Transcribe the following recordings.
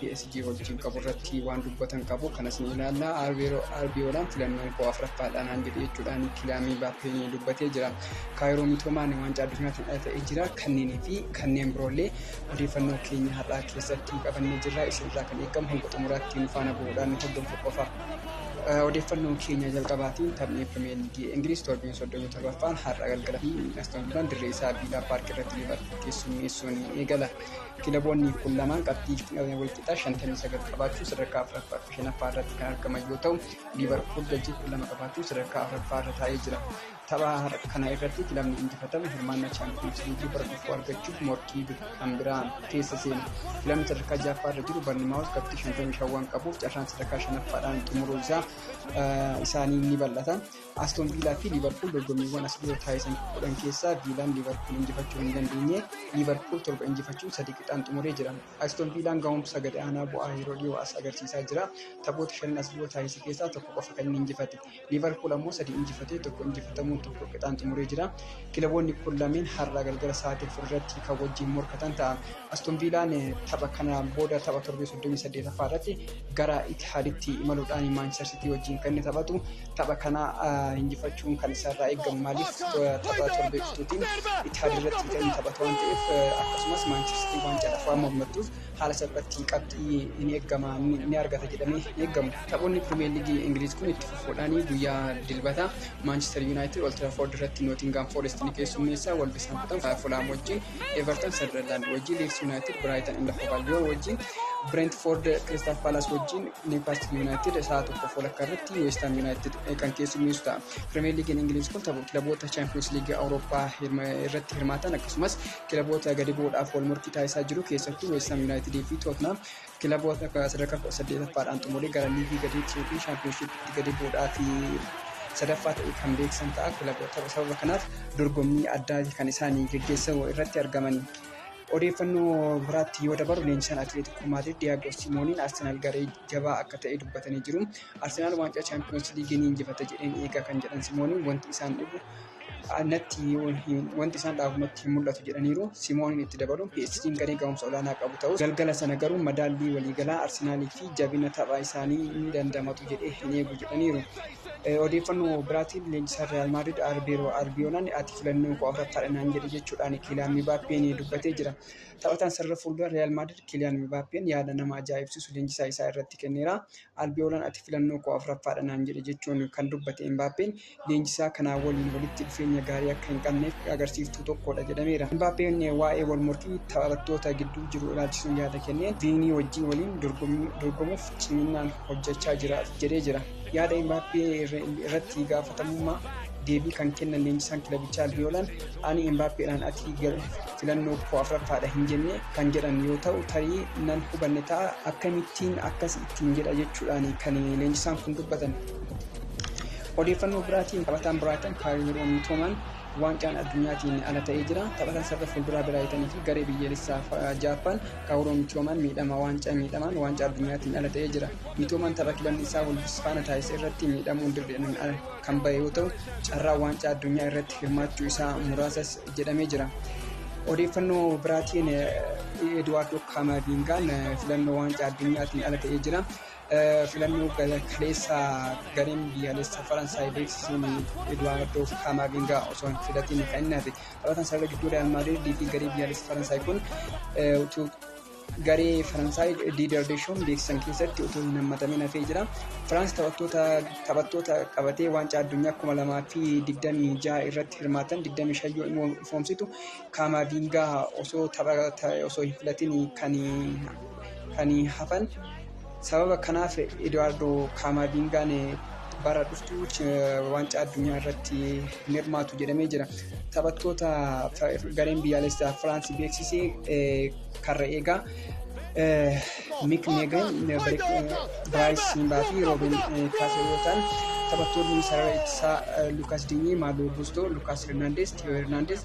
PSG wajjin qabu irratti waan dubbatan qabu kanas ni ilaalla. Arbiyoolaan filannoon koo afuraffaadhaan aan jedhe jechuudhaan kilaamii baappeen dubbatee jira. Kaayiroo Mitoomaan waancaa addunyaatti dhalatee jira. Kanneenii fi kanneen biroollee odeeffannoo keenya har'aa keessatti qabannee jirra. Isinirraa kan eegamu hanga xumuraatti nu faana bu'uudhaan hordofuu qofa. Odeeffannoon keenya jalqabaatiin taphni Pirimeer Liigii Ingiliz torbeen 37ffaan har'a galgala fi Aston Villaan dirree isaa Viilaa Paark irratti Liivarpuul keessummeessuun eegala. Kilaboonni kun lamaan qabxii walqixaa 59 qabaachuun sadarkaa 4ffaa fi 5ffaa irratti kan argaman yoo ta'u, Liivarpuul galchii 12 qabaachuun sadarkaa 4ffaa irra taa'ee jira. Tapha kana irratti kilabni injifatame hirmaannaa Chaampiyoonsi Liigii bara dhufuu argachuuf morkii kan biraa keessa seena. Kilabni sadarkaa 6ffaa irra jiru Barnimaawus qabxii 55 waan qabuuf carraan sadarkaa 5ffaadhaan xumuruu isaa isaanii ni bal'ata. Aston Viilaa fi Liivarpuul dorgommiiwwan as dhiyoo taasisan kudhan keessaa Viilaan Liivarpuul injifachuu hin dandeenye. Liivarpuul torba injifachuun sadii qixaan xumuree jira. Aston Viilaan gahumsa gadi aanaa bu'aa yeroo dhiyoo as agarsiisaa jira. Taphoota shanan as dhiyoo taasise keessaa tokko qofa kan inni injifate. Liivarpuul ammoo sadii injifatee tokko injifatamuun tokko qixaan xumuree jira. Kilaboonni kun lameen har'aa galgala sa'aatii afur irratti kan wajjin morkatan ta'a. Aston Viilaan tapha kana booda tapha torbee 38ffaa irratti gara Itihaaditti imaluudhaan Maanchister Sitii wajjin kan inni taphatu. Tapha kana injifachuun kan isarraa eegamu maaliif tapha torbee dhuftuutiin Itihaad irratti bitanii hin taphatu waan ta'eef akkasumas Maanchestii waancaadhaaf waan mormattuuf haala salphaatti qabxii hin eegama ni argata jedhamee hin eegamu. Taphoonni Pirimeer Liigii Ingiliiz kun itti fufuudhaan guyyaa Dilbata Maanchester Yuunaayitid Old Trafford irratti Nootingaam Foorest ni keessummeessa, Wolverhampton Fulaam wajjin, Everton Sanderlaand wajjin, Liids Yuunaayitid Biraayitan and Hove Albion wajjin, Brentford Crystal Palace wajjin, Newcastle Yuunaayitid sa'a tokkoof walakkaa irratti Lamatti Weestaan Yuunaayitid kan keessummeessu ta'a. Pirimeer Liigiin Ingiliiz kun tapha kilaboota Chaampiyoons Liigii Awurooppaa irratti hirmaatan akkasumas kilaboota gadi bu'uudhaaf wal morkii taasisaa jiru keessattuu Weestaan Yuunaayitidii fi Tootnaam kilaboota sadarkaa kudha saddeetaffaadhaan xumuree gara liigii gadi yookiin chaampiyoonshiipitti gadi bu'uudhaaf sadaffaa ta'e kan beeksan ta'a. Kilaboota sababa kanaaf dorgommii addaa kan isaanii geggeessamu irratti argamanii. Odeeffannoo biraatti yoo dabarru leenjisaan Atileetiikoo Maadriid Diyaagoo Simooniin Arsenaal garee jabaa akka ta'e dubbatanii jiru. Arsenaal waancaa Chaampiyoonsi Liigii ni injifata jedheen eegaa kan jedhan Simooniin wanti isaan dhibu natti wanti isaan dhaabu natti hin mul'atu jedhaniiru. Simooniin itti dabaluun PSG'n garee ga'umsa olaanaa qabu ta'us galgala sana garuu madaallii waliigalaa Arsenaalii fi jabina tapha isaanii ni dandamatu jedhee hin eegu jedhaniiru. Odeeffannoo biraatiin leenjisaan Riyaal Maadrid Arbeeroo Albiyoonaan ati filannoon koo afuraffaadha naan jedhe jechuudhaan Kiiliyaan Mibaappeen dubbatee jira. Taphataan sarara fuuldura Riyaal Maadrid Kiiliyaan Mibaappeen yaada nama ajaa'ibsiisu leenjisaa isaa irratti kenneera. Albiyoonaan ati filannoo koo afuraffaadha naan jedhe jechuun kan dubbate Imbaappeen leenjisaa kanaa waliin walitti dhufeenya gaarii akka hin qabneef agarsiiftuu tokkodha jedhameera. Imbaappeen waa'ee wal morkii taphattoota gidduu jiru ilaalchisuun yaada kenneen Viinii wajjin waliin dorgomuuf ciminaan hojjechaa jira jedhee jira. Yaada Imbaappee irratti gaafatamummaa deebii kan kennan leenjisaan kilabichaa Albiyoolaan ani Imbaappeedhaan ati filannoo koo afraffaadha hin jenne kan jedhan yoo ta'u tarii nan hubanne ta'a akkamittiin akkas ittiin jedha jechuudhaan kan leenjisaan kun dubbatan. Odeeffannoo biraatiin taphataan Biraayitan Kaayiroo Miitoomaan Waancaan Addunyaatiin ala ta'ee jira. Taphataan sarara fuulduraa Biraayitan fi garee biyyoolessaa Jaappaan Kaawuroo Mitoomaan miidhama waancaa miidhamaan waancaa addunyaatiin ala ta'ee jira. Mitoomaan tapha kibanni isaa Wolves faana taasise irratti miidhamuun dirreedhaan ala kan bahe yoo ta'u, carraa waancaa addunyaa irratti hirmaachuu isaa muraasas jedhamee jira. Odeeffannoo biraatiin Eduwaardoo Kaamaaviingaan filannoo waancaa addunyaatiin ala ta'ee jira. Filannoo kaleessa gareen biyyaalessa Faransaay beeksisuun Eduwaardoo Kaamaavingaa osoo hin filatiin kan inni hafe taphataan sarara gidduu Riyaal Maadriidii fi garee biyyaalessa Faransaay kun utuu garee Faransaay Diider Deeshoon beeksisan keessatti utuu hin hammatamin hafee jira. Firaans taphattoota taphattoota qabatee waancaa addunyaa kuma lamaa fi digdamii jaha irratti hirmaatan digdamii shayyoo immoo ifoomsitu Kaamaaviingaa osoo taphata osoo hin filatin kan kan hafan sababa kanaaf Eduwaardoo Kaamaaviingaan bara dhuftu waancaa addunyaa irratti hin hirmaatu jedhamee jira. Taphattoota gareen biyyaalessaa Firaansi beeksise karra eegaa Mik Meegan, Biraayis Siimbaa fi Roobin Kaasee yoo ta'an taphattoonni sarara ittisaa Lukaas Dinyee, Maaloo Guustoo, Lukaas Hernaandees, Tiyoo Hernaandees,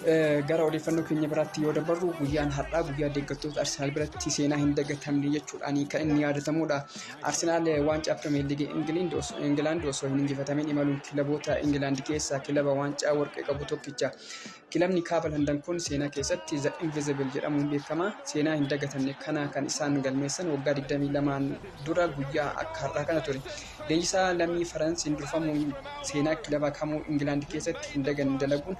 Gara odeeffannoo keenya biraatti yoo dabarru guyyaan har'aa guyyaa deeggartoota Arsenaal biratti seenaa hin dagatamne jechuudhaan kan inni yaadatamudha. Arsenaal waancaa Pirimeer Liigii Ingilaand osoo hin injifatamin imaluun kilaboota Ingilaand keessaa kilaba waancaa warqee qabu tokkicha. Kilabni kaaba Landan kun seenaa keessatti The Invisible jedhamuun beekama. Seenaa hin dagatamne kana kan isaan galmeessan waggaa 22 dura guyyaa akka har'aa kana ture. Leenjisaa lammii Faransiin durfamuun seenaa kilaba kamuu Ingilaand keessatti hin daganne dalaguun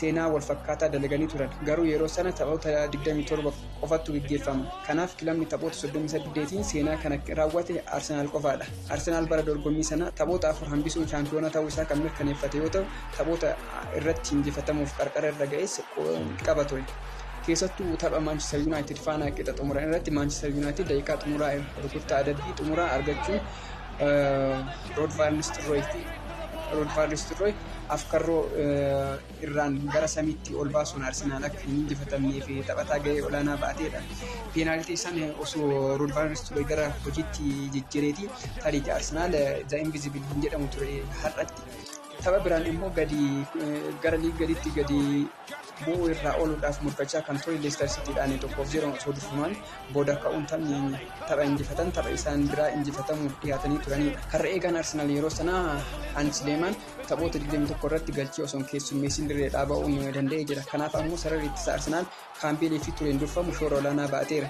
seenaa wal fakkaataa dalaganii turan. Garuu yeroo sana taphoota 27 qofattu gaggeeffama. Kanaaf kilabni taphoota 38tiin seenaa kana raawwate Arsenaal qofaadha. Arsenaal bara dorgommii sana taphoota afur hambisuun shaampiyoona ta'uu isaa kan mirkaneeffate yoo ta'u, taphoota irratti injifatamuuf qarqara irra ga'es qaba ture. Keessattuu tapha Maanchester Yuunaayitid faana qixa xumuran irratti Maanchester Yuunaayitid daqiiqaa xumuraa rukuttaa adabbii xumuraa argachuun Rood Vaan Nistelrooyit Rood Vaan Nistelrooy afkarroo irraan gara samiitti ol baasuun Arsenaal akka hin injifatamnee fi taphataa gahee olaanaa ba'ateedha. Peenaaltii san osoo Rood Vaan Nistelrooy gara hojiitti jijjireeti tarii Arsenaal The Invisible hin jedhamu ture har'atti. Tapha biraan immoo gadi gara liig gaditti gadi bu'uu irraa ooluudhaaf murkachaa kan ture Leestar Siitiidhaan 1 fi 0n osoo durfamaan booda ka'uun taphni tapha injifatan tapha isaan biraa injifatamuuf dhiyaatanii turaniidha. Karra eegaan Arsenaal yeroo sanaa Haans Leemaan taphoota 21 irratti galchii osoo hin keessummeessin dirreedhaa ba'uu ni danda'ee jira. Kanaaf ammoo sararri ittisa Arsenaal Kaambeelii fi Tureen durfamu shoora olaanaa ba'ateera.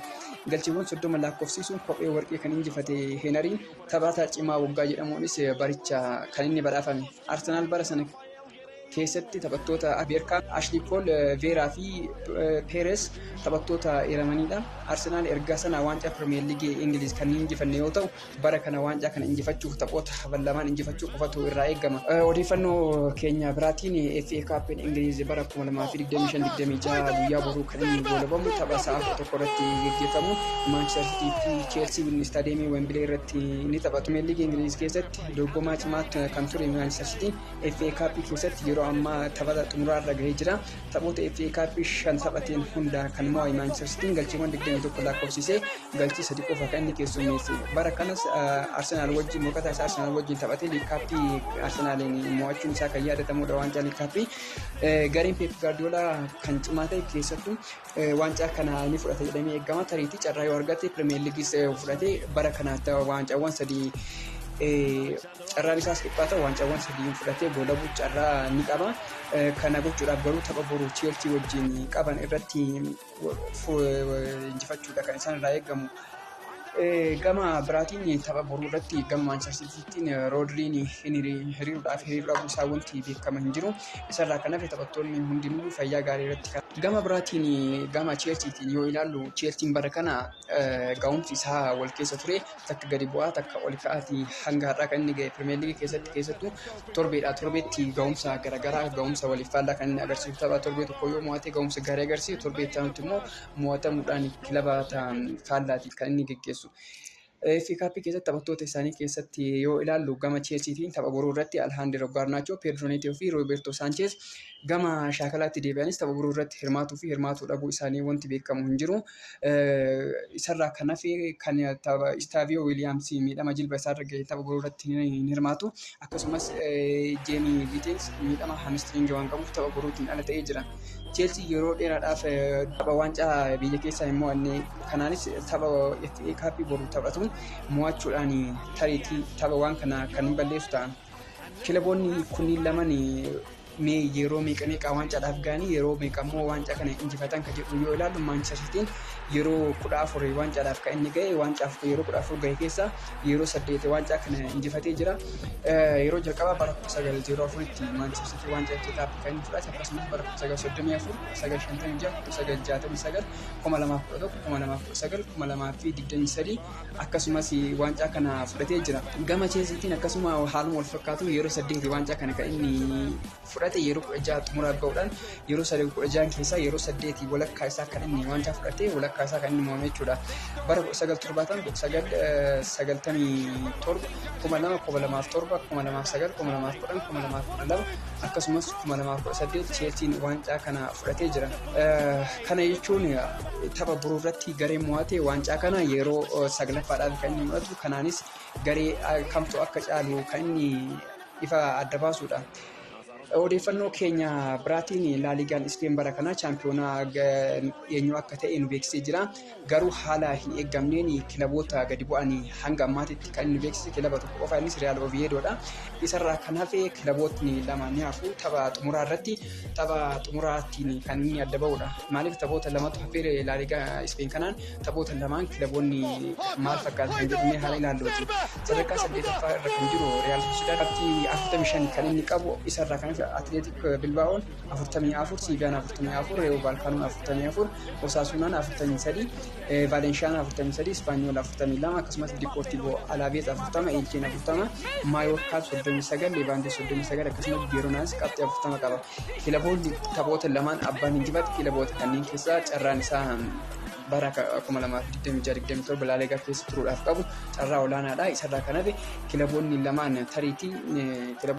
Galchiiwwan 30 laakkofsiisuun kophee warqii kan injifate Heenariin taphataa cimaa waggaa jedhamuunis baricha kan inni badhaafame. Arsenaal bara sana keessatti taphattoota Ameerikaa Ashley Cole, Veeraa fi Peeres taphattoota eeramanidha. Arsenaal erga sana waancaa Pirimeer Liigii Ingiliiz kan hin injifanne yoo ta'u, bara kana waancaa kana injifachuuf taphoota hafan lamaan injifachuu qofatu irraa eegama. Odeeffannoo keenya biraatiin FA Kaappin Ingiliiz bara 2025-26 guyyaa boruu kan inni goolabamu tapha sa'a 11 irratti geggeeffamu Maanchister Siitii fi Cheelsiin istaadiyeemii Wembilee irratti ni taphatu. Pirimeer Liigii Ingiliiz keessatti dorgomaa cimaa kan ture Maanchister Siitiin FA Cup keessatti yeroo ammaa taphata xumuraa irra gahee jira. Taphoota FA Cup shan taphateen hundaa kan mo'ame Manchester Cityn galchiiwwan 21 lakkoofsisee galchii sadi qofa kan inni keessummeesse. Bara kanas Arsenaal wajjin morkataa isaa Arsenaal wajjin taphatee liikaappii Arsenaaliin mo'achuun isaa kan yaadatamudha waancaa liikaappii. Gareen Pep Guardiola kan cimaa ta'e keessattuu waancaa kana ni fudhata jedhamee eegama. Tariitii carraa yoo argate Premier Leagues fudhatee bara kana waancaawwan sadii Carraan isaas dhiphaa ta'u waancawwan sadiyyuu fudhatee goolabuuf carraa ni qaba. Kana gochuudhaaf garuu tapha boru Cheelsii wajjin qaban irratti injifachuudha kan isaan irraa eegamu. Gama biraatiin tapha boruu irratti gama Maanchester Siitiittiin Roodriin hiriiruudhaaf hiriiruu dhabuu isaa wanti beekama hin jiru. Isarraa kan hafe taphattoonni hundinuu fayyaa gaarii irratti kan Gama biraatiin gama Cheelsiitiin yoo ilaallu Cheelsiin bara kana ga'umsi isaa wal keessa ture takka gadi bu'aa takka ol ka'aati hanga har'aa kan inni ga'e Pirimeer Liigii keessatti keessattuu torbeedhaa torbeetti ga'umsa garaagaraa ga'umsa waliif faallaa kan inni agarsiisu tapha torbee tokko yoo mo'ate ga'umsa gaarii agarsiisu torbee itti aanutti immoo mo'atamuudhaan kilaba ta'an faallaatiif kan inni geggeessu. Fi kaappii keessatti taphattoota isaanii keessatti yoo ilaallu gama Cheelsiitiin tapha boruu irratti Alhaandiroo Gaarnaachoo, Peedroo Neetoo fi Roobertoo Saancheez Gama shaakalaatti deebi'anis tapha biroo irratti hirmaatuu fi hirmaatuu dhabuu isaanii wanti beekamu hin jiru. Isarraa kan hafe kan tapha Istaaviyoo Wiiliyaams miidhama jilba isaarra gahe tapha biroo irratti hin hirmaatu. Akkasumas Jeemii Giiteens miidhama hamistiriingi waan qabuuf tapha birootiin ala ta'ee jira. Cheelsii yeroo dheeraadhaaf tapha waancaa biyya keessaa hin mo'anne kanaanis tapha FA Kaappii boru taphatu mo'achuudhaan tariitii tapha waan kana kan balleessu ta'a. Kilaboonni kunniin lamaan mee yeroo meeqa meeqa waancaadhaaf ga'anii yeroo meeqa immoo waancaa kana injifatan kan jedhu yoo ilaallu Maanchister Siitiin yeroo kudha afur waancaadhaaf kan inni ga'e waancaaf yeroo kudha afur ga'e keessaa yeroo saddeet waancaa kana injifatee jira. Yeroo jalqabaa bara kuma sagal zeeroo afuritti Maanchister Siitii waancaa FA Cup kan inni fudhate akkasumas bara kuma sagal soddomii afur kuma sagal shantamii ja'a kuma sagal jaatamii sagal kuma lamaaf kudha tokko kuma lamaaf kudha sagal kuma lamaa fi digdamii sadii akkasumas waancaa kana fudhatee jira. Gama Cheelsiitiin akkasuma haaluma wal fakkaatu yeroo saddeeti waancaa kana kan inni fudhate yeroo kudha jaha xumuraa ga'uudhaan yeroo sadii kudha jahan keessaa yeroo saddeeti walakkaa isaa kan inni waancaa fudhate walakkaa isaa kan inni mo'ame jechuudha. Bara kudha sagal torbaatan kudha sagal sagaltamii torba kuma lama kuma lamaaf torba kuma lamaaf sagal kuma lamaaf kudhan kuma lamaaf kudha lama akkasumas kuma lamaaf kudha saddeet Cheelsiin waancaa kana fudhatee jira. Kana jechuun tapha boruu irratti gareen mo'ate waancaa kana yeroo saglaffaadhaaf kan inni mo'atu kanaanis garee kamtu akka caalu kan inni ifa adda baasuudha. Odeeffannoo keenya biraatiin laaliigaan Ispeen bara kanaa chaampiyoonaa eenyu akka ta'e nu beeksisee jira. Garuu haala hin eegamneen kilaboota gadi bu'an hanga ammaatitti kan inni beeksise kilaba tokko qofa innis Riyaal Oviedoodha. Isarraa kan hafe kilabootni lama ni hafu tapha xumuraa irratti tapha xumuraattiin kan inni adda ba'udha. Maaliif taphoota lamatu hafeere Laaligaa Ispeen kanaan taphoota lamaan kilaboonni maal fakkaata kan jedhamee haala ilaalluuti. Sadarkaa saddeetaffaa irra kan jiru Riyaal Soosidaad qabxii 45 kan inni qabu isarraa kan hafe Atileetik Bilbaa'oon afurtamii afur siiviyaan afurtamii afur reewuu baalkaanuun afurtamii afur osaasuunaan afurtamii sadii vaalenshaan afurtamii sadii ispaanyool afurtamii lama akkasumas dipoortiivoo alaabees afurtama eelcheen afurtama maayoorkaa soddomii sagal leevaandee soddomii sagal akkasumas jeeronaas qabxii afurtama qaba kilaboonni taphoota lamaan abbaan injifate kilaboota kanneen keessaa carraan isaa bara 2026-27 balaalee gara keessa turuudhaaf qabu carraa olaanaadha isarraa kan hafe kilaboonni lamaan tariitii kilab